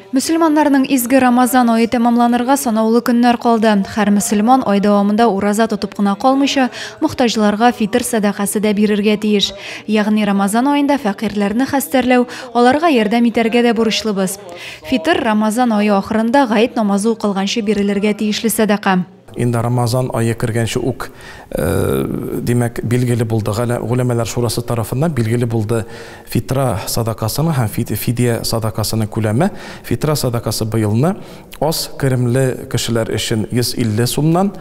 Мөселманнарның изге Рамазан ае тәмамланырга санаулы көннәр калды. Хәр мөселман ай дәвамында ураза тотып кына калмыйча, мохтаҗларга фитр сәдакасы да бирергә тиеш. Ягъни Рамазан аенда фәкыйрьләрне хәстәрләү, аларга ярдәм итәргә дә бурычлыбыз. Фитр, Рамазан ае ахырында гает намазы укылганчы бирелергә тиешле сәдака. Инде Рамазан ае кергәнче үк, димәк, билгеле булды, Гуләмәләр шурасы тарафыннан билгеле булды фитра садакасының һәм фидия садакасының күләме. Фитра садакасы быелны аз керемле кешеләр өчен 150 сумнан,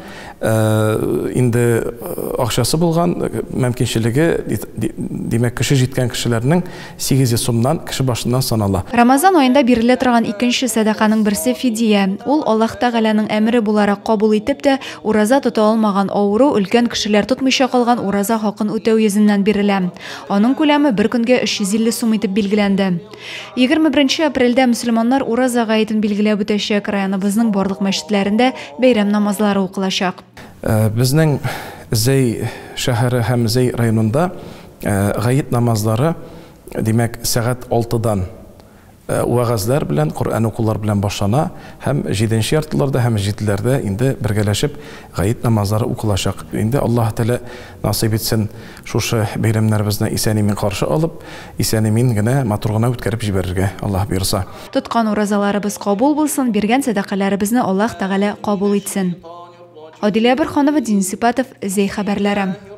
инде акчасы булган, мөмкинчелеге, димәк, көче җиткән кешеләрнең 800 сумнан кеше башыннан санала. Рамазан аенда бирелә торган икенче сәдаканың берсе фидия. Ул Аллаһ Тәгаләнең әмере буларак кабул итеп тә, ураза тота алмаган, авыру, өлкән кешеләр тотмыйча калган ураза хакын үтәү йөзеннән бирелә. Аның күләме бер көнгә 350 сум итеп билгеләнде. 21 апрельдә мөселманнар Ураза гаетен билгеләп үтәчәк, районыбызның барлык мәчетләрендә бәйрәм намазлары укылачак. Безнең Зәй шәһәре һәм Зәй районында Гает намазлары, димәк, сәгать алтыдан вәгазьләр белән, Коръән укулар белән башлана һәм җиденче яртыларда һәм җиделәрдә инде бергәләшеп гает намазлары укылачак. Инде Аллаһы Тәгалә насыйп итсен, шушы бәйрәмнәребезне исән-имин каршы алып, исән-имин генә, матур гына үткәреп җибәрергә, Аллаһ боерса. Тоткан уразаларыбыз кабул булсын, биргән сәдакаләребезне Аллаһ Тәгалә кабул итсен. Адилә Борһанова, Денис Ипатов, Зәй хәбәрләре.